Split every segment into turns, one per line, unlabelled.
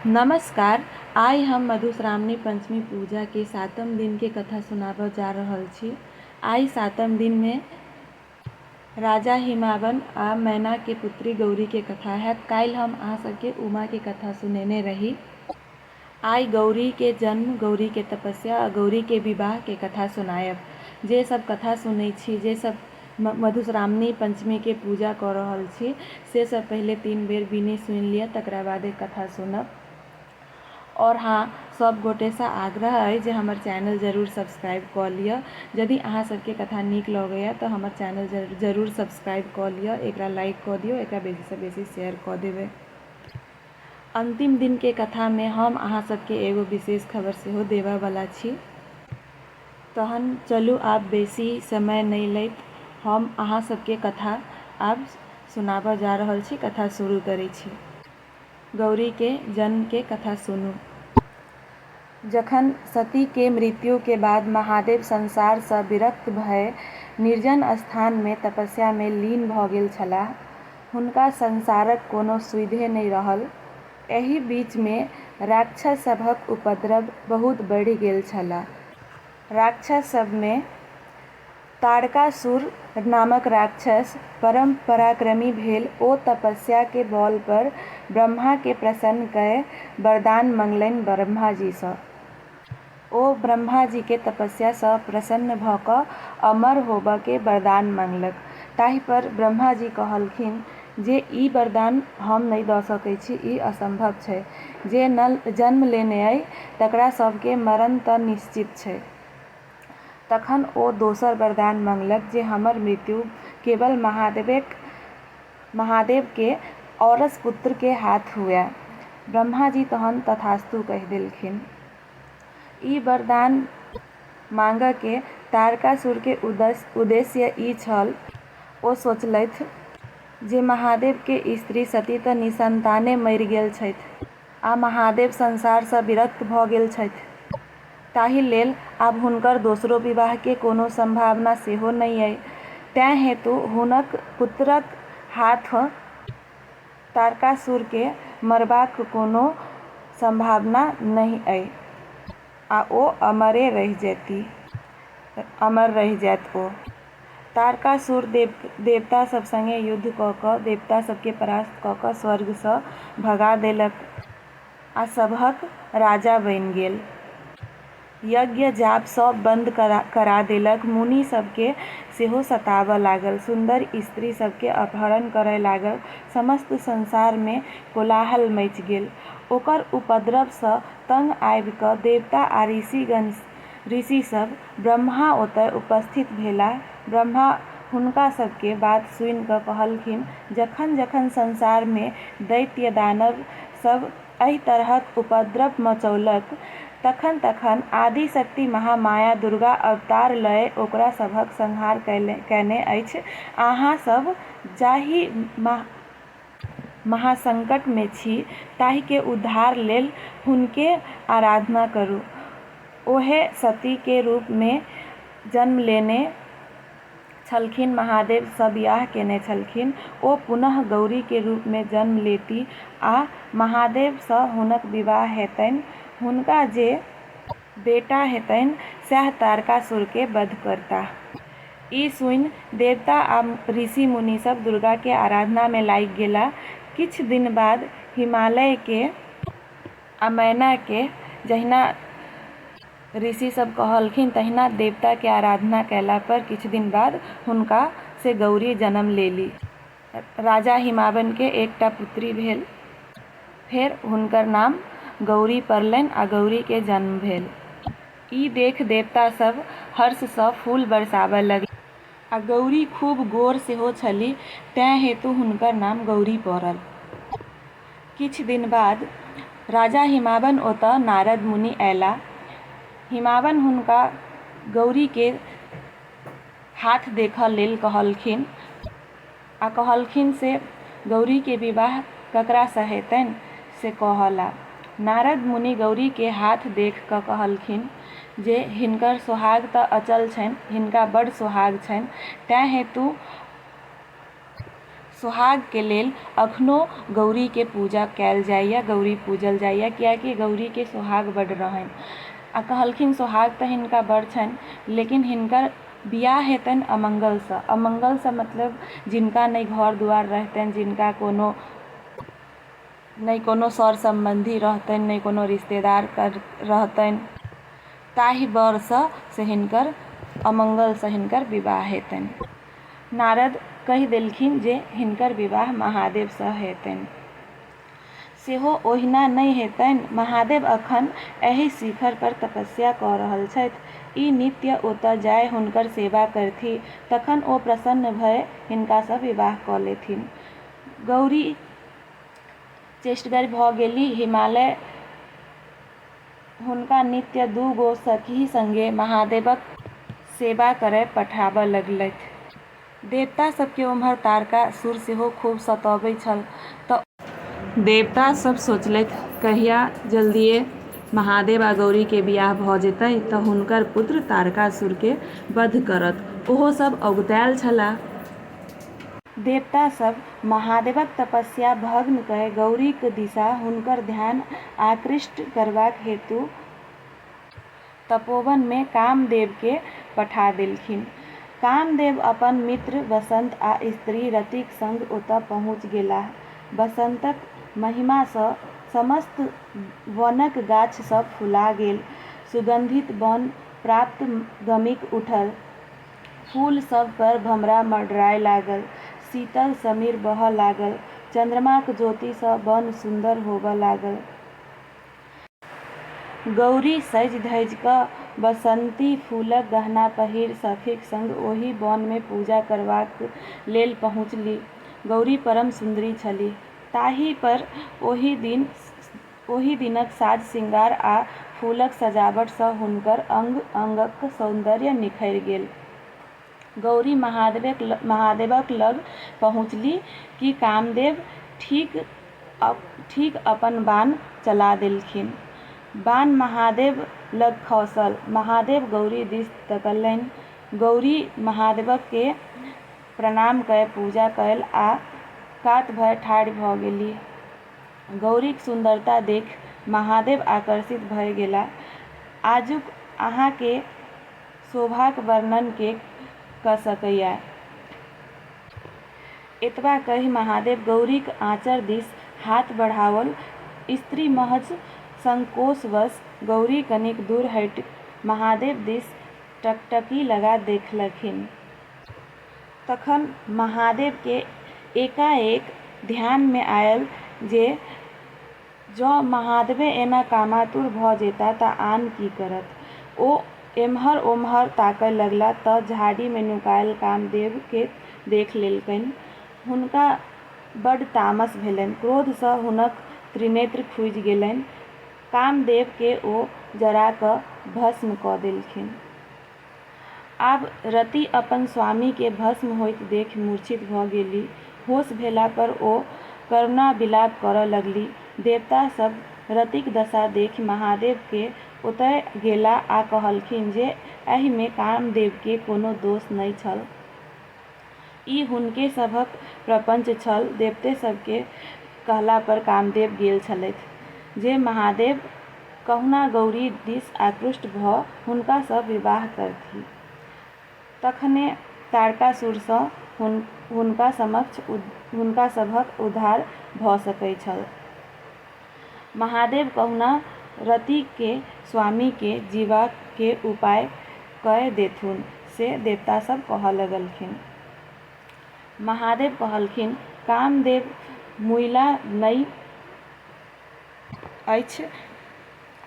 नमस्कार, आइ हम मधुश्रावणी पंचमी पूजा के सातम दिन के कथा सुनाबऽ जा रहल छी। आइ सातम दिन में राजा हिमावन आ मैना के पुत्री गौरी के कथा हैत। काल्हि हम अहाँ सब के उमा के कथा सुनेने रही। आइ गौरी के जन्म, गौरी के तपस्या आ गौरी के विवाह के कथा सुनायब। जे सब कथा सुनै छी, जे सब मधुश्रावणी पंचमी के पूजा कऽ रहल छी से सभ पहिले तीन बेर बीनी सुनि लिअ तकरा बादे कथा सुनब। और हाँ सभ गोटे सँ आग्रह अछि जे हमर चैनल जरूर सब्सक्राइब कऽ लिअ। जदि अहाँ सभ के कथा नीक लगैए तऽ हमर चैनल जरूर सब्सक्राइब कऽ लिअ, एकरा लाइक कऽ दियौ, एकरा बेसी सँ बेसी शेयर कऽ देबै। अंतिम दिन के कथा में हम अहाँ सभ के एगो विशेष खबर सेहो देबय बला छी। तहन चलू आब बेसी समय नहि लैत हम अहाँ सभकेँ कथा आब सुनाबऽ जा रहल छी। कथा शुरू करै छी। गौरी के जन्म के कथा सुनू। जखन सती के मृत्यु के बाद महादेव संसार सँ विरक्त भए निर्जन स्थान मे तपस्या मे लीन भऽ गेल छलाह। हुनका संसारक कोनो सुइधे नहि रहल। एहि बीच मे राक्षस सभक उपद्रव बहुत बढ़ि गेल छल। राक्षस सभ मे ताड़कासुर नामक राक्षस परम पराक्रमी भेल। ओ तपस्या के बल पर ब्रह्मा के प्रसन्न कय वरदान मंगलनि ब्रह्मा जी सँ। ओ ब्रह्माजीकेँ तपस्या सँ प्रसन्न भऽ कऽ अमर होबऽ के वरदान मंगलक। ताहि पर ब्रह्माजी कहलखिन जे ई वरदान हम नहि दऽ सकै छी, ई असंभव छै। जे नल जन्म लेने अइ तकरा सभ के मरण तँ निश्चित छै। तखन ओ दोसर वरदान मंगलक जे हमर मृत्यु केवल महादेवेक महादेव के औरस पुत्र के हाथ हुअए। ब्रह्माजी तहन तथास्तु कहि देलखिन। ई वरदान मांगकेँ तारकासुरकेँ उद्देश्य ई छल। ओ सोचलथि जे महादेवकेँ स्त्री सती तँ निःसंताने मरि गेल छथि आ महादेव संसारसँ विरक्त भऽ गेल छथि। ताहि लेल आब हुनकर दोसरो विवाहकेँ कोनो संभावना सेहो नहि अइ। तैं हेतु हुनक पुत्रक हाथसँ तारकासुरकेँ मरबाक कोनो सम्भावना नहि अइ आ ओ अमरे रहि जएति। अमर रहि जाएत ओ। तारकासुर देवतासभ संगे युद्ध कऽ कऽ देवतासभकेँ परास्त कऽ कऽ स्वर्गसँ भगा देलक आ सभहक राजा बनि गेल। यज्ञ-जाप सभ बन्द करा देलक। मुनि सभकेँ सेहो सताबऽ लागल। सुन्दर स्त्री सभकेँ अपहरण करए लागल। समस्त संसारमे कोलाहल मचि गेल। ओकर उपद्रवसँ तंग आबि कऽ देवता आ ऋषिगण, ऋषि सभ, ब्रह्मा ओतए उपस्थित भेलाह। ब्रह्मा हुनका सभकेँ बात सुनि कऽ कहलखिन, जखन-जखन संसारमे दैत्य-दानव सभ एहि तरहक उपद्रव मचौलक। तखन-तखन आदिशक्ति महामाया दुर्गा अवतार लए ओकरा सभक संहार कएने अछि। अहाँ सभ जाहि महासंकट मे छी ताहि के उद्धार लेल हुनके आराधना करू। ओहे सती के रूप मे जन्म लेने छलखिन। महादेव सँ बिआह केने छलखिन। ओ पुनः गौरी के रूप मे जन्म लेती आ महादेव सँ हुनक विवाह हेतैन। हुनका जे बेटा हेतैन सैह तारकासुर के वध करताह। ई सुनि देवता आ ऋषि-मुनि सभ दुर्गा के आराधना मे लागि गेलाह। किछु दिन बाद हिमालय के अमैना के जहिना। ऋषि सब कहलखिन तहिना देवता के आराधना कयला पर किछु दिन बाद हुनका से गौरी जन्म लेली। राजा हिमावन के एकटा पुत्री भेल। फेर हुनकर नाम गौरी पड़लनि आ गौरी के जन्म भेल। ई देख देवता सब हर्ष सँ फूल बरसाबय लगली। आ गौरी खूब गोर सेहो छलि तैं हेतु हुनकर नाम गौरी पड़ल। किछु दिन बाद राजा हिमावन ओतऽ नारद मुनि अयलाह। हिमावन हुनका गौरी केर हाथ देखऽ लेल कहलखिन। आ कहलखिन से गौरी के विवाह ककरा सँ हेतनि से कहऽ ला। नारद मुनि गौरी के हाथ देख कऽ कहलखिन जे हिनकर सोहाग तऽ अचल छनि, हिनका बड सोहाग छनि, तैं हेतु सोहाग के लेल अखनो गौरी के पूजा कयल जाइए, गौरी पूजल जाइए, कियाकि गौरी के सोहाग बड रहनि। आ कहलखिन सोहाग तऽ हिनका बड छनि, लेकिन हिनकर। बिआह हेतनि अमंगलसँ। अमंगलसँ मतलब जिनका नहि घर-दुआरि रहितनि, जिनका कोनो नहि कोनो सर-सम्बन्धी रहितनि, नहि कोनो रिश्तेदार रहितनि, ताहि बरसँ से हिनकर अमंगलसँ हिनकर विवाह हेतनि। नारद कहि देलखिन जे हिनकर विवाह महादेवसँ हेतनि। सेहो ओहिना नहि हेतनि। महादेव अखन एहि शिखर पर तपस्या कऽ रहल छथि। ई नित्य ओतय जाय हुनकर सेवा करथि। तखन ओ प्रसन्न भए हिनका सँ विवाह कऽ लेथिन। गौरी चेष्टगर भऽ गेलीह। हिमालय हुनका नित्य दू गो सखी संगे महादेवक सेवा करय पठाबय लगलथि। देवता सभ केँ ओम्हर तारकासुर सेहो खूब सतौबै छल तँ ओ। देवता सभ सोचलथि कहिया जल्दिये महादेव आ गौरी केँ बियाह भऽ जेतै तँ हुनकर पुत्र तारकासुर केँ बध करत। ओहो सभ अगुताएल छलाह। देवता सभ महादेवक तपस्या भग्न कए गौरीक दिशा हुनकर ध्यान आकृष्ट करबाक हेतु। तपोवन मे कामदेव केँ पठा देलखिन। कामदेव अपन मित्र वसंत आ स्त्री रतिक संग ओतय पहुँच गेलाह। वसंतक महिमा सँ समस्त वनक गाछ सभ फुला गेल। सुगंधित बन प्राप्त गमिक उठल। फूल सभ पर भमरा मडराय लागल। शीतल समीर बहय लागल। चंद्रमाक ज्योति सँ बन सुन्दर होबय लागल। गौरी सजि-धजि कऽ बसन्ती फूलक गहना पहिरि सखीक संग ओहि बनमे पूजा करबाक लेल पहुँचलि। गौरी परम सुन्दरी छलीह। ताहि पर ओहि दिन ओहि दिनक साज-सिंगार आ फूलक सजावट सँ हुनकर अंग-अंगक सौन्दर्य निखरि गेल। गौरी महादेवक लग पहुँचलि कि कामदेव ठीक अपन बाण चला देलखिन। बाण महादेव लग खसल। महादेव गौरी दिस तकलनि। गौरी महादेवकेँ प्रणाम कए पूजा कएल आ कात भए ठाढ़ि भए गेलीह। गौरीक सुन्दरता देखि महादेव आकर्षित भए गेलाह। आजुक अहाँकेँ शोभाक वर्णन के कऽ सकैए? एतबा कहि महादेव गौरीक आँचर दिस हाथ बढ़ाओल। स्त्री महज संकोचवश गौरी कनिक दूर हटि महादेव दिस टकटकी लगा देखलखिन। तखन महादेव के एकाएक ध्यान मे आयल जे जँ महादेवे एना कामातुर भऽ जैता तँ आन की करत। ओ एम्हर-ओम्हर ताकय लगला तँ झाड़ीमे नुकायल कामदेवकेँ देख लेलकनि। हुनका बड्ड तामस भेलनि। क्रोधसँ हुनक त्रिनेत्र खुजि गेलनि। कामदेवकेँ ओ जरा कऽ भस्म कऽ देलखिन। आब रति अपन स्वामी केँ भस्म होइत देखि मूर्छित भऽ गेली। होश भेला पर ओ करुणा विलाप करऽ लगली। देवता सभ रतिक दशा देखि महादेव केँ ओतय गेला आ कहलखिन जे एहि मे कामदेव केँ कोनो दोष नहि छल। ई हुनके सभक प्रपंच छल। देवते सभके कहला पर कामदेव गेल छलथि जे महादेव कहुना गौरी दिस आकृष्ट भऽ हुनका सँ विवाह करथि। तखने तारकासुर सँ हुनका समक्ष हुनका सभक उद्धार भऽ सकैत छल। महादेव कहुना रतिके स्वामीके जीबाके उपाय कए देथुन से देवतासब कहऽ लगलखिन। महादेव कहलखिन, कामदेव मुइला नै अछि,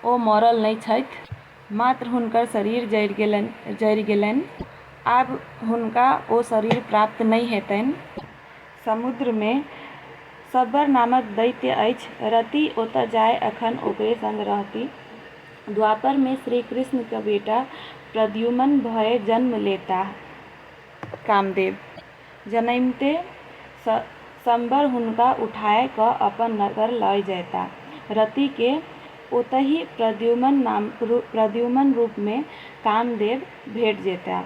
ओ मरल नै छथि, मात्र हुनकर शरीर जरि गेलनि। आब हुनका ओ शरीर प्राप्त नै हेतनि। समुद्रमे शबर नामक दैत्य अछि। रति ओतऽ जाए अखन ओकरे संग रहति। द्वापरमे श्रीकृष्णक बेटा प्रद्युमन भए जन्म लेताह। कामदेव जनैमते शबर हुनका उठाए कऽ अपन नगर लए जएताह। रतिकेँ ओतहि प्रद्युमन रूपमे कामदेव भेट जेताह।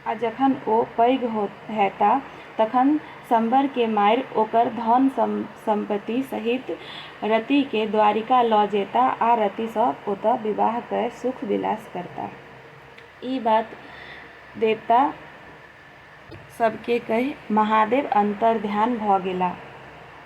आ जखन ओ पैघ हेताह तखन शम्बरकेँ मारि ओकर धन-सम्पति सहित रतिकेँ द्वारिका लऽ जेताह आ रतिसँ ओतए विवाह कए सुख-विलास करताह। ई बात देवता सभकेँ कहि महादेव अन्तर्ध्यान भऽ गेलाह।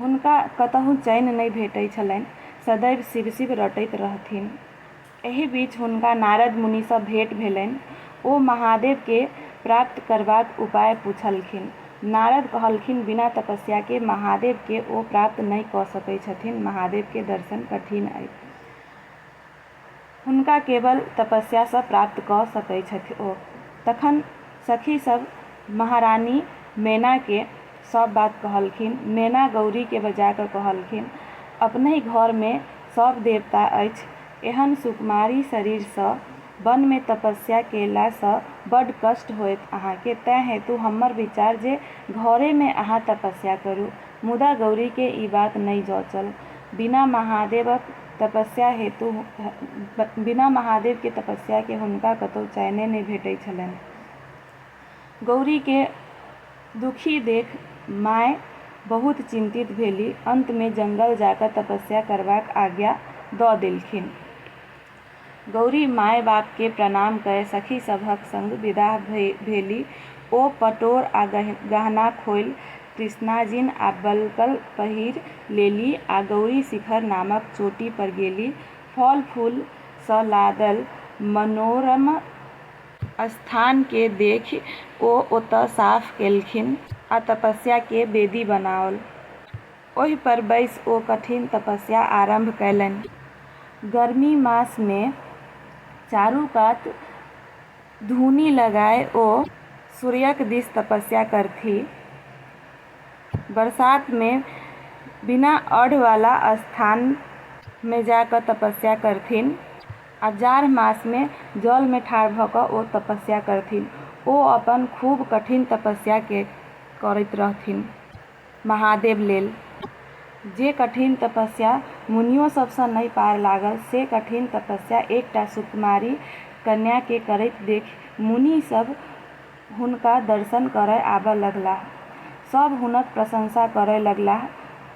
हुनका कतहु चैन नहि भेटै छलैन। सदैव शिव-शिव रटैत रहथिन। एहि बीच हुनका नारद मुनि सँ भेट भेलैन। ओ महादेव केँ प्राप्त करबाक उपाय पुछलखिन। नारद कहलखिन बिना तपस्या के महादेव केँ ओ प्राप्त नहि कऽ सकै छथिन। महादेव के दर्शन कठिन अछि। हुनका केवल तपस्या सँ प्राप्त कऽ सकै छथि ओ। तखन सखी सभ महारानी मेना केँ सभ बात कहलखिन। मेना गौरी केँ बजा कऽ कहलखिन, अपनहि घर मे सभ देवता अछि। एहन सुकुमारी शरीर सँ वन मे तपस्या केला सँ बड कष्ट होयत अहाँ केँ। तैं हेतु हम्मर विचार जे घरे मे अहाँ तपस्या करू। मुदा गौरी केँ ई बात नहि जँचल। बिना महादेवक। तपस्या हेतु बिना महादेव के तपस्या के हुनका कतौ चैने नहि भेटै छलनि। गौरी के दुखी देख माय बहुत चिंतित भेली। अंत मे जंगल जाकय तपस्या करबाक आज्ञा दऽ देलखिन। गौरी माए-बाप केँ प्रणाम कए सखी सभक संग विदा भेलि। ओ पटोर आ गहना खोलि कृष्णाजिन आ बलकल पहिरि लेलि आ गौरी शिखर नामक चोटी पर गेलि। फल-फूल सँ लादल मनोरम स्थान केँ देखि ओ ओतए साफ केलखिन आ तपस्या केँ वेदी बनाओल। ओहि पर बैसि ओ कठिन तपस्या आरम्भ कयलनि। गर्मी मास मे चारू कात धूनि लगाय ओ सूर्यक दिस तपस्या करथि। बरसात मे बिना अढ़ वाला स्थान मे जा क तपस्या करथिन्ह आ जाढ़ मास मे जल मे ठाढ़ भ क ओ तपस्या करथिन्ह। ओ अपन खूब कठिन तपस्या के करैत रहथिन्ह। महादेव लेल जे कठिन तपस्या मुनियो सभसँ नहि पार लागल से कठिन तपस्या एकटा सुकुमारी कन्याकेँ करैत देखि मुनि सभ हुनका दर्शन करय आबय लगलाह। सभ हुनक प्रशंसा करय लगलाह।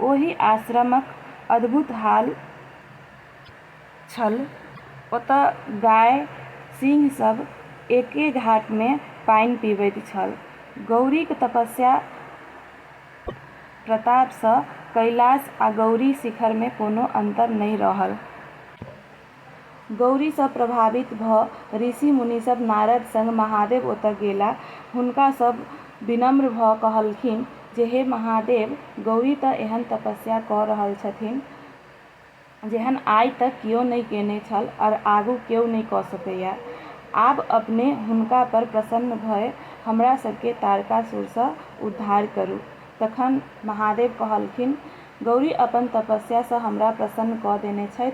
ओहि आश्रमक अद्भुत हाल। छल। ओतऽ गाय, सिंह सब एके घाट मे पानि पीबैत छल। गौरीक तपस्या प्रताप सँ कैलाश आ गौरी शिखर मे कोनो अन्तर नहि रहल। गौरी सँ प्रभावित भऽ ऋषि-मुनि सब नारद संग महादेव ओतऽ गेला। हुनका सब विनम्र भऽ कहलखिन जे हे महादेव, गौरी तँ एहन तपस्या कऽ रहल छथिन। जेहन आइ तक केओ नहि कयने छल आओर आगू केओ नहि कऽ सकैए। आब अपने हुनका पर प्रसन्न भए हमरा सभकेँ तारकासुरसँ उद्धार करू। तखन महादेव कहलखिन, गौरी अपन तपस्यासँ हमरा प्रसन्न कऽ देने छथि।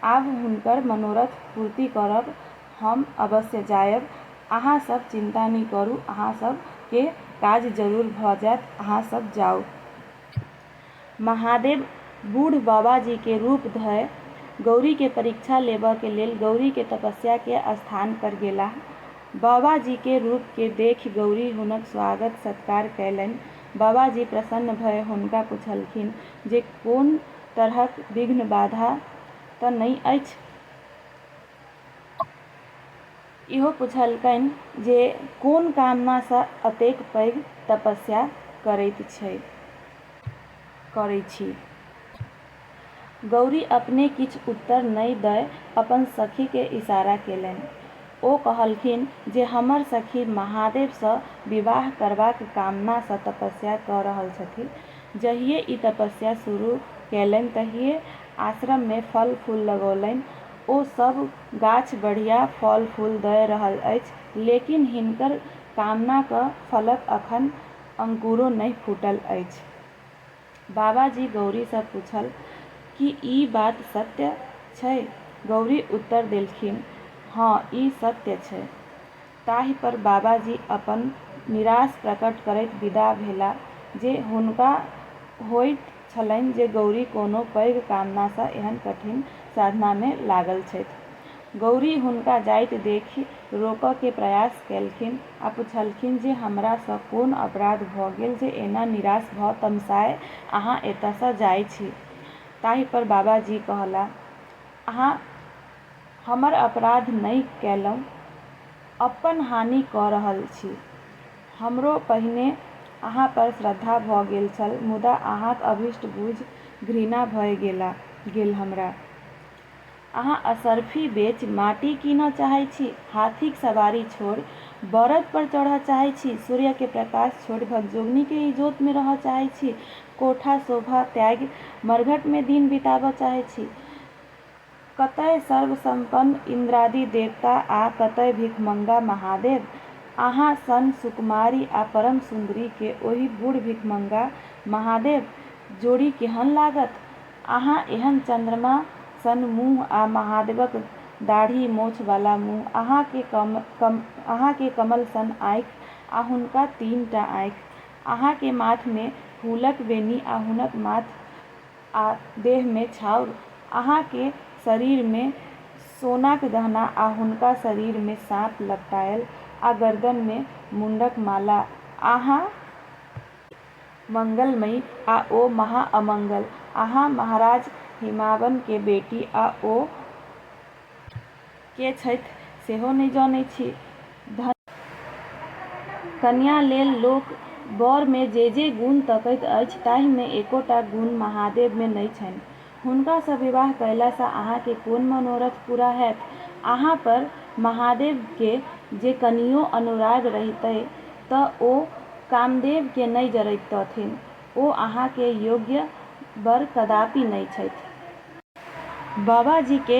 आब हुनकर मनोरथ पूर्ति करब। हम अवश्य जाएब। अहाँ सभ चिन्ता नहि करू। अहाँ सभ केँ काज जरूर भऽ जाएत। अहाँ सभ जाउ। महादेव बूढ़ बाबाजी के रूप धय गौरी के परीक्षा लेबऽ के लेल गौरी के तपस्या के स्थान पर गेलाह। बाबाजी के रूप के देखि गौरी हुनक स्वागत सत्कार कयलनि। बाबाजी प्रसन्न भय हुनका पुछलखिन जे कोन तरहक विघ्न बाधा तऽ नञि अछि? इहो पुछलकनि जे कोन कामना सँ अतेक पैघ तपस्या करैत छै करैत छी? गौरी अपने किछु उत्तर नहि दय अपन सखी केँ इशारा केलनि। ओ कहलखिन जे हमर सखी महादेव सँ विवाह करबाक कामना सँ तपस्या कऽ रहल छथि। जहिये ई तपस्या शुरू केलनि तहिये आश्रम मे फल-फूल लगौलनि। ओ सभ। गाछ बढ़िया फल-फूल दए रहल अछि, लेकिन हिनकर कामनाक फलक अखन अंकुरो नहि फूटल अछि। बाबाजी गौरी सँ पूछल, की ई बात सत्य छै? गौरी उत्तर देलखिन, हँ, ई सत्य छै। ताहि पर बाबाजी अपन निराश प्रकट करैत विदा भेला जे हुनका होइत छलनि जे गौरी कोनो पैघ कामना सँ एहन कठिन साधना मे लागल छथि। गौरी हुनका जाइत देखि रोकऽ के प्रयास केलखिन आ पुछलखिन जे हमरा सँ कोन अपराध भऽ गेल जे एना निराश भऽ तमसाए अहाँ एतय सँ जाइ छी। ताहि पर बाबाजी कहला, अहाँ हमर अपराध नहि कएलहुँ। अप्पन हानि कऽ रहल छी। हमरो पहिने अहाँ पर श्रद्धा भऽ गेल छल मुदा अहाँक अभीष्ट बुझि घृणा भए गेला गेल हमरा। अहाँ असर्फी बेचि माटि कीनऽ चाहै छी, हाथीक सबारी छोड़ि बड़द पर चढ़ऽ चाहै छी, सूर्य के प्रकाश छोड़ि भगजोगनी के इजोत मे रहऽ चाहै छी, कोठा-शोभा त्यागि मरघट मे दिन बिताबऽ चाहै छी। कतय सर्वसम्पन्न इन्द्रादि देवता आ कतय भिखमङ्गा महादेव? अहाँ सन सुकुमारी आ परम सुन्दरी के ओहि बूढ़ भिखमङ्गा महादेव जोड़ी केहन लागत? अहाँ एहन चन्द्रमा सन मुँह आ महादेवक दाढ़ी मोछ वाला मुँह, अहाँ के अहाँ के कमल सन आँखि आ हुनका तीन टा आँखि, अहाँ के माथ मे फूलक वेणी आ हुनक माथ आ देहमे छाउर। अहाँकेँ शरीरमे सोनाक गहना आ हुनका शरीरमे साँप लपटायल आ गरदनमे मुण्डक माला। अहाँ मंगलमयी आ ओ महाअमंगल। अहाँ महाराज हिमावनकेँ बेटी आ ओ के छथि सेहो नहि जनैत छी। धन्य। कन्या लेल लोक बर मे जे जे गुण तकैत अछि ताहि मे एकोटा गुण महादेव मे नहि छनि। हुनका सँ विवाह कयला सँ अहाँ के कोन मनोरथ पूरा हएत। अहाँ पर महादेव के जे कनियो अनुराग रहितै त ओ कामदेव के नहि जरैतथिन। ओ अहाँ के योग्य बर कदापि नहि छथि। बाबाजी के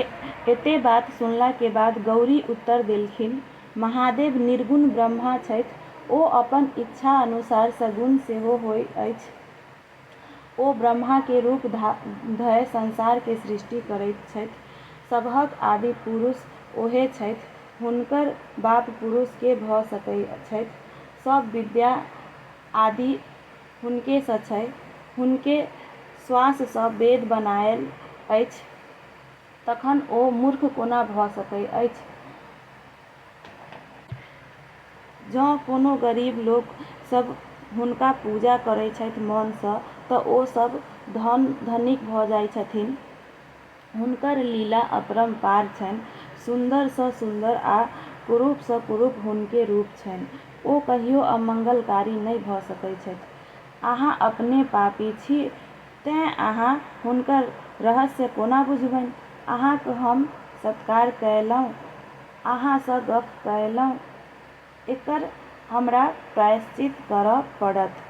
एते बात सुनला के बाद गौरी उत्तर देलखिन, महादेव निर्गुण ब्रह्मा छथि। ओ अपन इच्छा अनुसार सगुण सेहो होइ अछि। ओ ब्रह्मा के रूप धय संसार के सृष्टि करैत छथि। सबहक आदि पुरुष ओहे छथि। हुनकर बाप पुरुष के भऽ सकैत छथि? सब विद्या आदि हुनके सँ छै। हुनके श्वास सँ वेद बनाएल अछि। तखन ओ मूर्ख कोना भऽ सकैत अछि? जँ कोनो गरीब लोक सभ हुनका पूजा करैत छथि मन सँ तँ ओ सभ धन-धनिक भऽ जाइत छथिन्ह। हुनकर लीला अपरम्पार छनि। सुन्दर सँ सुन्दर आ कुरूप सँ कुरूप हुनके रूप छनि। ओ कहियो अमंगलकारी नहि भऽ सकैत छथि। अहाँ अपने पापी छी तेँ अहाँ हुनकर रहस्य कोना बुझबनि? अहाँक हम सत्कार कएलहुँ। अहाँ सँ गप्प कएलहुँ। एकर हमरा प्रायश्चित करऽ पड़त।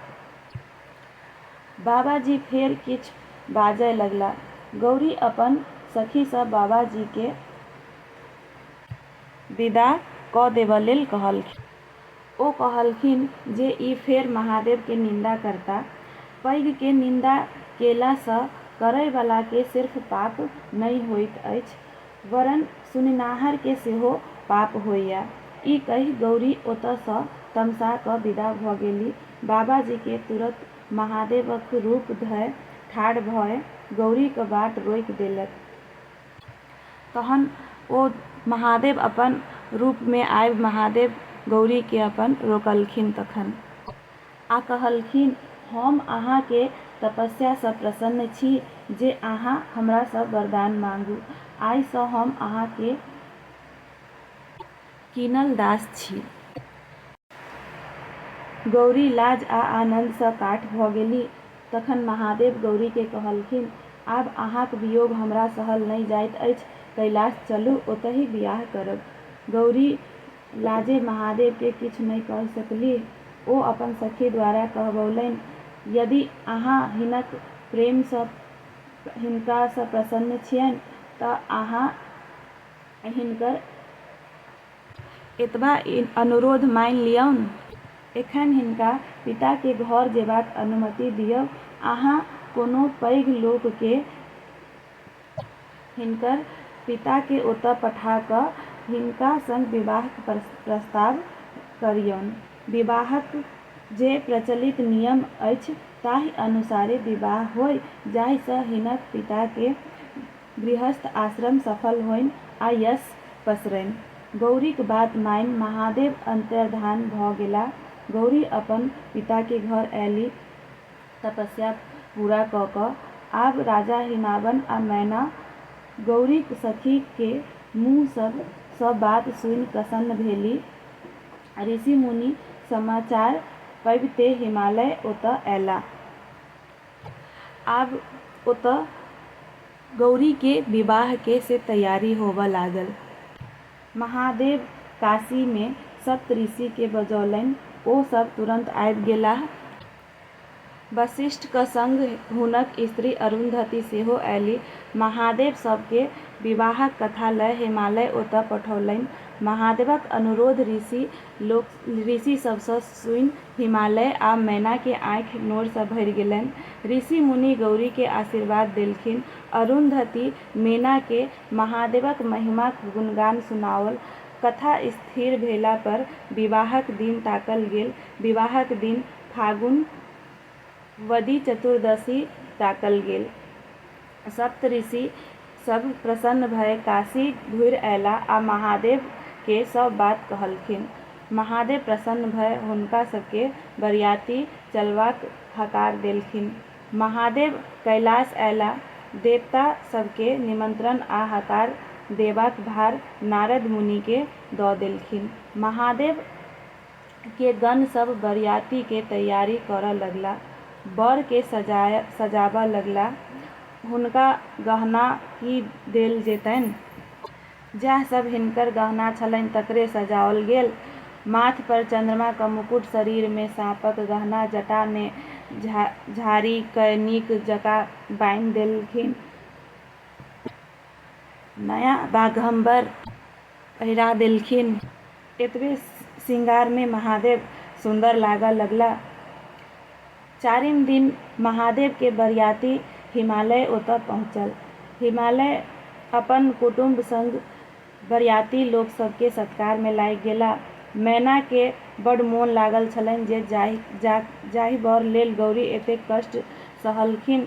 बाबाजी फेर किछु बाजय लगला। गौरी अपन सखीसँ बाबाजीकेँ विदा कऽ देबयलेल कहलखिन। ओ कहलखिन जे ई फेर महादेवकेँ निन्दा करता। पैघकेँ निन्दा केलासँ करयबलाकेँ सिर्फ पाप नहि होइत अछि, वरन सुनिनाहरकेँ सेहो पाप होइए। ई कहि गौरी ओतएसँ तमसा कऽ विदा भऽ गेली। बाबाजीकेँ तुरत महादेवक रूप धए ठाढ़ भए गौरीक बाट रोकि देलक। तहन ओ महादेव अपन रूपमे आबि महादेव गौरीकेँ अपन रोकलखिन। तखन। आ कहलखिन, हम अहाँ के तपस्या सँ प्रसन्न छी जे अहाँ हमरा सँ वरदान माँगू। आइ सँ हम अहाँ के कीनल दास छी। गौरी लाज आ आनन्द सँ काठ भ गेलीह। तखन महादेव गौरी के कहलखिन, आब अहाँक वियोग हमरा सहल नहि जाइत अछि। कैलाश चलू, ओतहि वियाह करब। गौरी लाजे महादेव के किछु नहि कहि सकलीह। ओ अपन सखी द्वारा कहबौलनि, यदि अहाँ हिनक प्रेम सँ हिनका सँ प्रसन्न छियनि त अहाँ हिनकर एतबा अनुरोध मानि लियौन। एखन हिनका पिता के घर जेबाक अनुमति दियौ। अहाँ कोनो पैघ लोक के हिनकर पिताकेँ ओतय पठा कऽ हिनका संग विवाहक प्रस्ताव करियौन। विवाहक जे प्रचलित नियम अछि ताहि अनुसारे विवाह होय जाहि सँ हिनक पिताकेँ गृहस्थ आश्रम सफल होइन आ यश पसरैन। गौरीक बात मानि महादेव अन्तर्धान भऽ गेलाह। गौरी अपन पिताकेँ घर अयलीह। तपस्या पूरा कऽ कऽ आब राजा हिमावन आ मैना गौरीक सखी के मुँह सभ सँ बात सुनि प्रसन्न भेलि। ऋषि मुनि समाचार पबिते हिमालय ओतऽ अयलाह। आब ओतऽ गौरी के विवाह के से तैयारी होबऽ लागल। महादेव काशी मे सप्त ऋषि के बजौलनि ओ सभ तुरंत आबि गेलाह। वशिष्ठक संग हुनक स्त्री अरुन्धती सेहो अयली। महादेव सभ केँ विवाहक कथा लय हिमालय ओतय पठौलनि। महादेवक अनुरोध ऋषि लोक ऋषि सभ सँ सुनि हिमालय आ मैना केँ आँखि नोर सँ भरि गेलनि। ऋषि मुनि गौरी केँ आशीर्वाद देलखिन। अरुन्धती मैना केँ महादेवक महिमाक गुणगान सुनाओल। कथा स्थिर भेला पर विवाहक दिन ताकल गेल। विवाहक दिन फागुन वदी चतुर्दशी ताकल गेल। सप्तऋषि सभ प्रसन्न भए काशी घुरि अएलाह आ महादेव केँ सभ बात कहलखिन। महादेव प्रसन्न भए हुनका सभ केँ बरियाती चलबाक हकार देलखिन। महादेव कैलाश अएलाह। देवता सभ केँ निमंत्रण आ हकार देबाक भार नारद मुनि केँ दऽ देलखिन। महादेव के गण सब बरियाती के तैयारी करऽ लगला। बर के सजाय सजाबऽ लगला। हुनका गहना की देल जेतैन? जैह सब हिनकर गहना छलैन तकरे सजाओल गेल। माथ पर चन्द्रमा क मुकुट, शरीर मे साँपक गहना, जटा मे झा झाड़ी कय नीक जकाँ बान्हि देलखिन। नया बाघम्बर। पहिरा देलखिन। एतबे शृंगारमे महादेव सुन्दर लागऽ लगला। चारिम दिन महादेवके बरियाती हिमालय ओतऽ पहुँचल। हिमालय अपन कुटुम्ब संग बरियाती लोक सभके सत्कारमे लागि गेला। मैनाके बड्ड मोन लागल छलनि जे जाहि बर लेल गौरी एतेक कष्ट सहलखिन।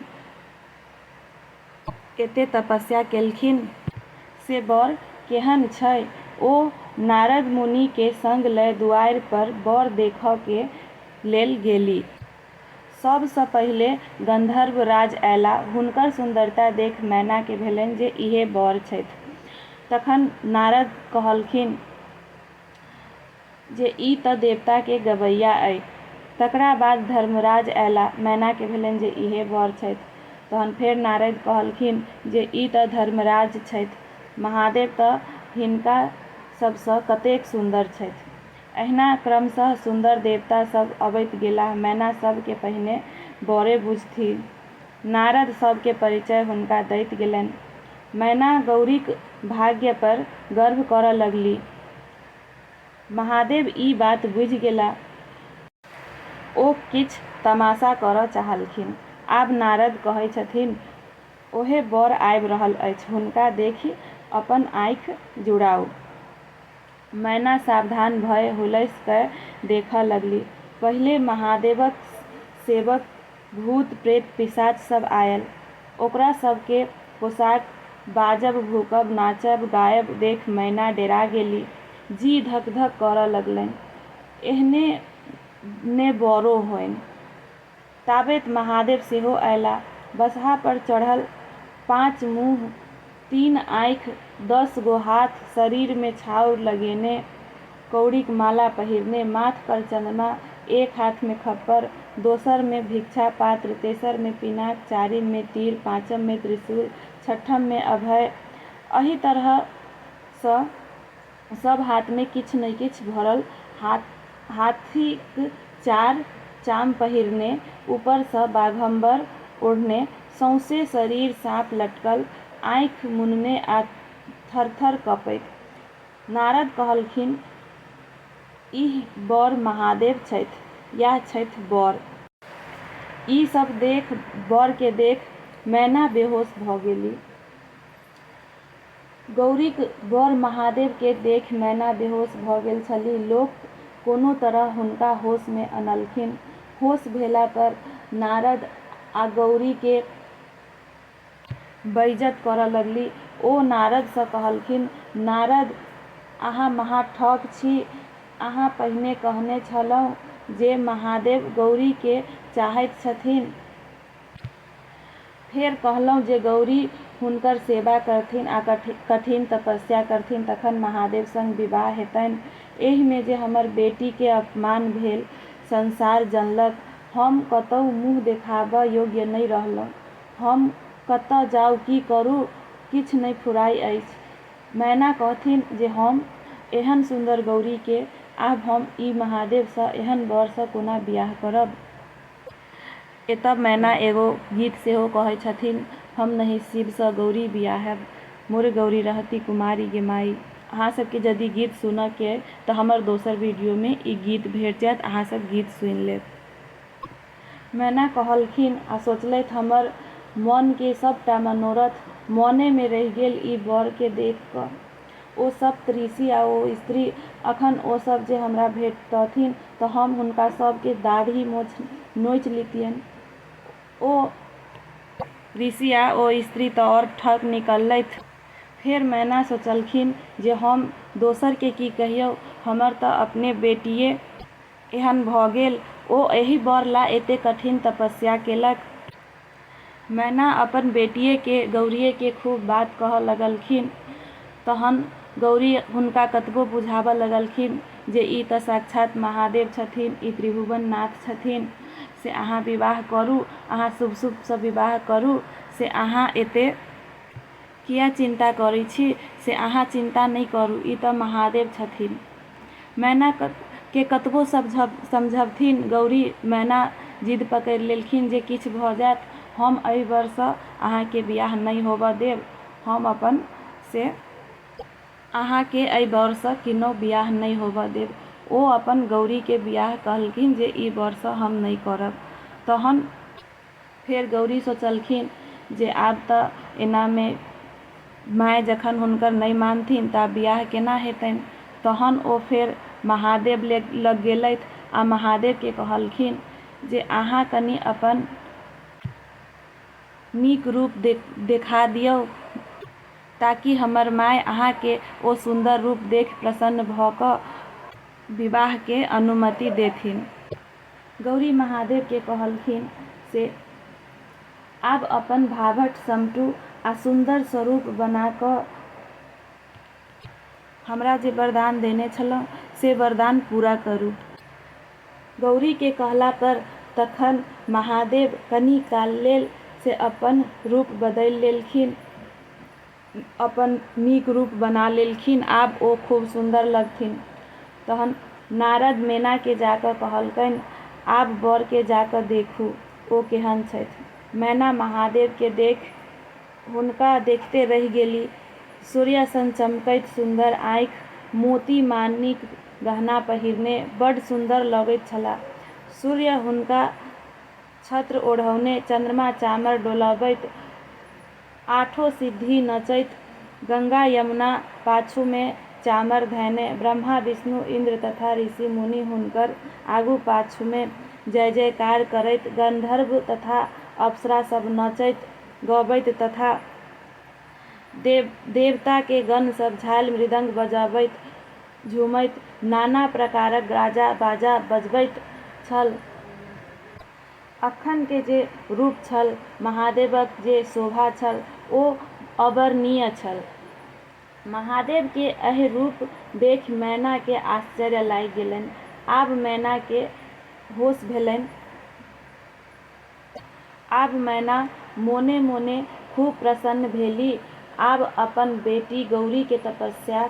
केते तपस्या केलखिन? से बर केहन छै? ओ नारद मुनि के संग लय दुआरि पर बर देखऽ के लेल गेलि। सब सँ पहिले गंधर्व राज अयला। हुनकर सुन्दरता देख मैना के भेलनि जे इहे बर छथि। तखन नारद कहलखिन। जे ई तँ देवताकेँ गबैया अइ। तकरा बाद धर्मराज अयलाह। मैनाकेँ भेलनि जे इएह वर छथि। तहन फेर नारद कहलखिन जे ई तँ धर्मराज छथि। महादेव तँ हिनका सभसँ कतेक सुन्दर छथि। एहिना क्रमशः सुन्दर देवता सभ अबैत गेलाह। मैना सभकेँ पहिने वरे बुझथिन। नारद सभकेँ परिचय हुनका दैत गेलनि। मैना गौरीक भाग्यपर गर्व करऽ लगलि। महादेव ई बात बुझि गेला। ओ किछु तमाशा करऽ चाहलखिन। आब नारद कहै छथिन, ओहे बर आबि रहल अछि। हुनका देखि अपन आँखि जुड़ाउ। मैना सावधान भए हुलसि कए देखऽ लगलि। पहिले महादेवक सेवक भूत-प्रेत-पिशाच सब आयल। ओकरा सब के पोशाक बाजब, भूकब, नाचब, गायब देख मैना डेरा गेलि। जी धक-धक करऽ लगलैन। एहने ने बऽरो होइन। ताबेत महादेव सेहो अयला। बसहा पर चढ़ल पाँच मुँह तीन आँखि, दस गो हाथ, शरीर मे छाउर लगेने, कौड़ीक माला पहिरने, माथ पर चंद्रमा, एक हाथ मे खप्पर, दोसर मे भिक्षा पात्र, तेसर मे पिनाक, चारिम मे तीर, पाँचम मे त्रिशूल, छठम मे अभय, अहि तरह सँ। सभ हाथमे किछु ने किछु भरल, हाथीक चार चाम पहिरने, ऊपरसँ बाघम्बर ओढ़ने, सौंसे शरीर साँप लटकल, आँखि मुनने आ थरथर कँपैत। नारद कहलखिन, ईह वर महादेव छथि। यैह छथि वर। ई सभ देख, वरकेँ देख मैना बेहोश भऽ गेलि। गौरीक बर महादेव केँ देख मैना बेहोश भऽ गेल छलीह। लोक कोनो तरह हुनका होश मे अनलखिन। होश भेला पर नारद आ गौरी केँ बैइजत करऽ लगलीह। ओ नारद सँ कहलखिन, नारद, अहाँ महा ठक छी। अहाँ पहिने कहने छलहुँ जे महादेव गौरी केँ चाहैत छथिन्ह। फेर कहलहुँ जे गौरी हुनकर सेवा करथिन आ कठिन तपस्या करथिन तखन महादेव संग विवाह हेतनि। एहिमे जे हमर बेटीकेँ अपमान भेल संसार जनलक। हम कतहु मुँह देखाबऽ योग्य नहि रहलहुँ। हम कतऽ जाउ की करू किछु नहि फुराइ अछि। मैना कहथिन जे हम एहन सुन्दर गौरीकेँ आब हम ई महादेवसँ एहन वरसँ कोना विआह करब। एतय मैना एगो गीत सेहो कहै छथिन हम नहि शिव सँ गौरी बियाहैब मोरे गौरी रहती कुमारी गे माइ। अहाँ सब के जदी गीत सुनय के अइ त हमर दोसर वीडियो मे ई गीत भेट जायत अहाँ सब गीत सुनि लेब। मैना कहलखिन आ सोचलथि हमर मन के सबटा मनोरथ मने मे रहि गेल ई बर के देख क। ओ सप्त ऋषि आ ओ स्त्री, अखन ओ सभ जे हमरा भेटतथिन तँ हम हुनका सभ केँ दाढ़ि-मोछ नोचि लितियनि। ओ ऋषि आ ओ स्त्री तँ और ठक निकललथि। फेर मैना सोचलखिन जे हम दोसर केँ की कहियौ, हमर तँ अपने बेटिये एहन भऽ गेल। ओ एहि बर ला एते कठिन तपस्या केलक। मैना अपन बेटिये के गौरीये के खूब बात कहऽ लगलखिन। तहन गौरी हुनका कतबो बुझाबऽ लगलखिन जे ई तऽ साक्षात महादेव छथिन, ई त्रिभुवन नाथ छथिन। से अहाँ विवाह करू, अहाँ शुभ-शुभ सँ विवाह करू। से अहाँ एते। किए चिन्ता करै छी? से अहाँ चिन्ता नहि करू। ई तँ महादेव छथिन। मैनाकेँ कतबो समझबथिन गौरी, मैना जिद पकड़ि लेलखिन जे किछु भऽ जाएत, हम एहि वरसँ अहाँकेँ बिआह नहि होबऽ देब। हम अपन से। अहाँकेँ एहि वरसँ किन्नहुँ बिआह नहि होबऽ देब। ओ अपन गौरीकेँ बिआह कहलखिन जे ई वरसँ हम नहि करब। तहन। फेर गौरी सोचलखिन जे आब तँ एनामे माय जखन हुनकर नहि मानथिन तँ आब बिआह केना हेतनि। तहन ओ फेर महादेव लग गेलथि आ महादेवकेँ कहलखिन जे अहाँ कनी अपन नीक रूप देखा दियौ ताकि हमर माय अहाँकेँ ओ सुन्दर रूप देखि प्रसन्न भऽ कऽ विवाहकेँ अनुमति देथिन। गौरी महादेव केँ कहलखिन से आब अपन भाभट समटू आ सुन्दर स्वरूप बना कऽ हमरा जे वरदान देने छलहुँ से वरदान पूरा करू। गौरी केँ कहला पर तखन महादेव कनी काल लेल से अपन रूप बदलि लेलखिन। अपन नीक रूप बना लेलखिन। आब ओ खूब सुन्दर लगथिन। तहन नारद मैनाकेँ जा कऽ कहलकनि, आब बरकेँ जा कऽ देखू, ओ केहन छथि। मैना महादेवकेँ देखि हुनका देखिते रहि गेली। सूर्यसन चमकैत सुन्दर आँखि, मोती-माणिक गहना पहिरने बड्ड सुन्दर लगैत छलाह। सूर्य हुनका छत्र ओढ़ौने, चन्द्रमा चामर डोलबैत आठो सिद्धि नचैत गंगा यमुना पाछूमे चामर धएने ब्रह्मा विष्णु इन्द्र तथा ऋषि मुनि हुनकर आगू पाछूमे जय जयकार करैत गन्धर्व तथा अप्सरा सब नचैत गबैत तथा देव देवताके गण सब झालि मृदंग बजबैत झुमैत नाना प्रकारक गाजा बाजा बजबैत छल। अखन के जे रूप छल महादेवक जे शोभा छल ओ अवर्णनीय छल। महादेव के एहि रूप देखि मैना के आश्चर्य लागि गेलनि। आब मैना के होश भेलनि। आब मैना मोने मोने खूब प्रसन्न भेली। आब अपन बेटी गौरी के तपस्या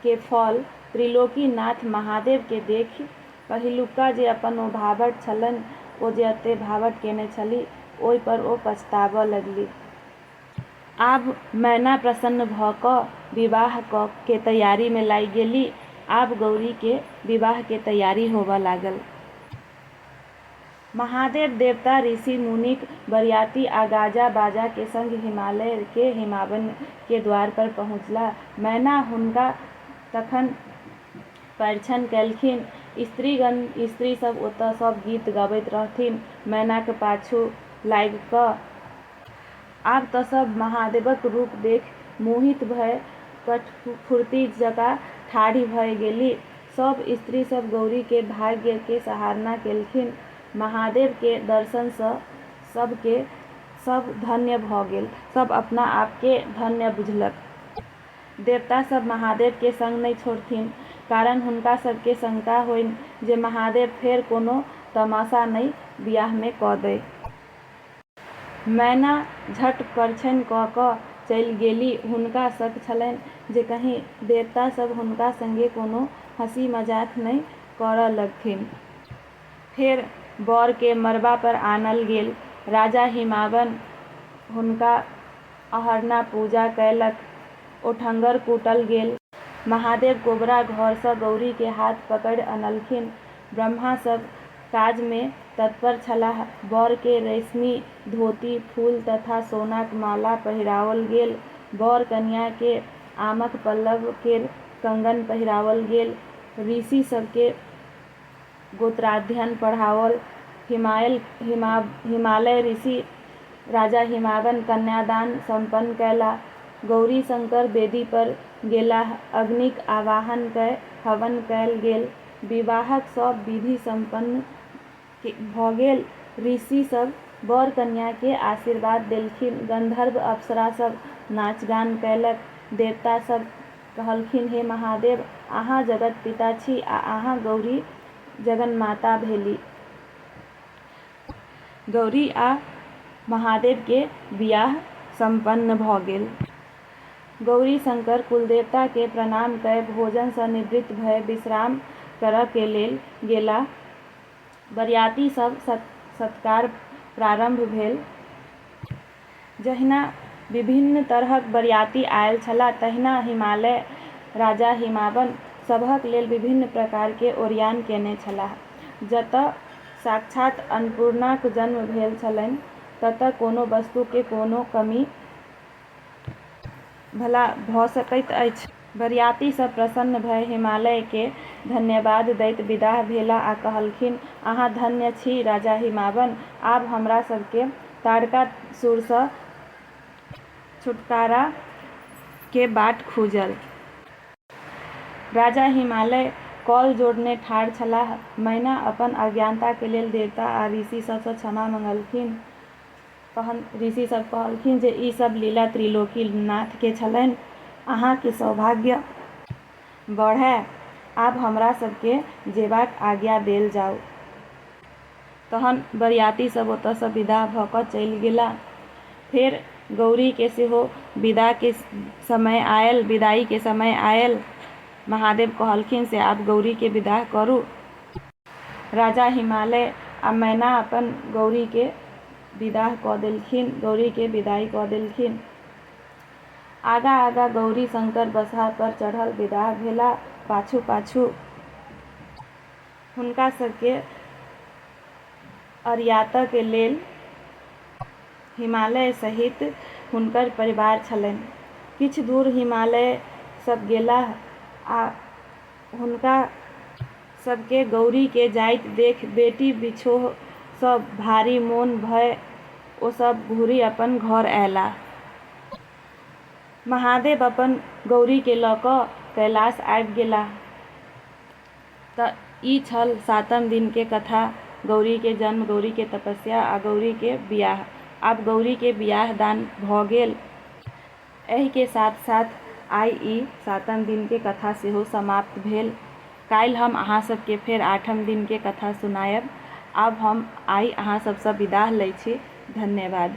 के फल त्रिलोकीनाथ महादेव के देखि पहिलुका जे अपन ओ भावट छलनि, ओ जे एते भावट केने छलीह, ओहि पर ओ पछताबऽ लगलीह। आब मैना प्रसन्न भऽ कऽ विवाह कऽ के तैयारी मे लागि गेली। आब गौरी के विवाह के तैयारी होबऽ लागल। महादेव, देवता, ऋषि, मुनिक बरियाती आ गाजा, बाजा के संग हिमालय के हिमावन के द्वार पर पहुँचला। मैना हुनका तखन। परिछन कएलखिन। स्त्रीगण, स्त्री सभ ओतए सभ गीत गबैत रहथिन मैनाक पाछू लागि कऽ। आब तँ सभ महादेवक रूप देखि मोहित भए कठफुर्ती जकाँ ठाढ़ि भए गेलि। सभ स्त्री सभ गौरीकेँ भाग्यकेँ सराहना कएलखिन। महादेवकेँ दर्शनसँ सभकेँ सभ धन्य भऽ गेल। सभ अपना आपकेँ धन्य बुझलक। देवता सभ महादेव केँ संग नहि छोड़थिन, कारण हुनका सभ केँ शंका होइन जे महादेव फेर कोनो तमाशा नहि बियाह मे कऽ दए। मैना झट परछैन कऽ कऽ चलि गेली। हुनका शक छलैन जे कहीं देवता सभ हुनका संगे कोनो हँसी मजाक नहि करऽ लगथिन। फेर बर केँ मड़बा पर आनल गेल। राजा हिमावन हुनका अहरना पूजा कयलक। ओठंगर कूटल गेल। महादेव कोबरा घरसँ गौरीकेँ हाथ पकड़ि अनलखिन। ब्रह्मा सभ काजमे तत्पर छलाह। बरकेँ रेशमी धोती, फूल तथा सोनाक माला पहिराओल गेल। बर कनियाँकेँ आमक पल्लव केर कंगन पहिराओल गेल। ऋषि सभकेँ गोत्राध्ययन पढ़ाओल। हिमायल, हिमाब, हिमालय ऋषि राजा हिमावन कन्यादान सम्पन्न कयलाह। गौरीशंकर वेदी पर गेलाह। अग्निक आवाहन कय हवन कयल गेल। विवाहक सभ विधि सम्पन्न भ गेल। ऋषि सभ वर-कन्या कें आशीर्वाद देलखिन। गन्धर्व-अप्सरा सभ नाच-गान कयलक। देवता सभ कहलखिन हे महादेव अहाँ जगत पिता छी आ अहाँ गौरी जगन्माता भेली। गौरी आ महादेव के बियाह सम्पन्न भ गेल। गौरी शंकर कुलदेवता के प्रणाम कय भोजन स निवृत्त भय विश्राम करय के लेल गेलाह। बरियाती सब सत्कार प्रारम्भ भेल। जहिना विभिन्न तरहक बरियाती आएल छलाह तहिना हिमालय राजा हिमावन सभक लेल विभिन्न प्रकार के ओरियान केने छलाह। जतऽ साक्षात अन्नपूर्णाक जन्म भेल छलनि ततऽ कोनो वस्तु के कोनो कमी भला भऽ सकैत अछि? बरियाती सभ प्रसन्न भए हिमालयकेँ धन्यवाद दैत विदाह भेलाह आ कहलखिन, अहाँ धन्य छी राजा हिमावन! आब हमरा सभकेँ ताड़कासुरसँ छुटकाराक बाट खुजल। राजा हिमालय कौल जोड़ने ठाढ़ छलाह। मैना अपन अज्ञानताक लेल देवता आ ऋषि सभसँ क्षमा मंगलखिन। तहन ऋषि सभ कहलखिन जे ई सभ लीला त्रिलोकी नाथ के छलनि। अहाँ के सौभाग्य बढ़ए। आब हमरा सभ के जेबाक आज्ञा देल जाउ। तहन बरियाती सभ ओतय सँ विदा भ क चलि गेलाह। फेर गौरी के सेहो विदा के समय आयल, विदाई के समय आयल। महादेव कहलखिन से आब गौरी के विदा करू। राजा हिमालय आ मैना अपन गौरीकेँ विदाह कऽ देलखिन। गौरीकेँ विदाइ कऽ देलखिन। आगाँ-आगाँ गौरी शंकर बसहापर चढ़ल विदाह भेलाह। पाछू-पाछू हुनका सभकेँ अरियातक लेल हिमालय सहित हुनकर परिवार छलनि। किछु दूर हिमालय सभ गेलाह आ हुनका सभकेँ गौरीकेँ जाइत देखि बेटी बिछोहसँ भारी मोन भए ओ सभ घुरि अपन घर अएलाह। महादेव अपन गौरीकेँ लऽ कऽ कैलाश आबि गेलाह। तँ ई छल सातम दिनकेँ कथा, गौरीकेँ जन्म, गौरीकेँ तपस्या आ गौरीकेँ बिआह। आब गौरीकेँ बिआह-दान भऽ गेल। एहि के साथ साथ आइ ई सातम दिन के कथा सेहो समाप्त भेल। काल्हि हम अहाँ सब के फेर आठम दिन के कथा सुनायब। आब हम आइ अहाँ सब सँ विदाह लय छी। धन्यवाद।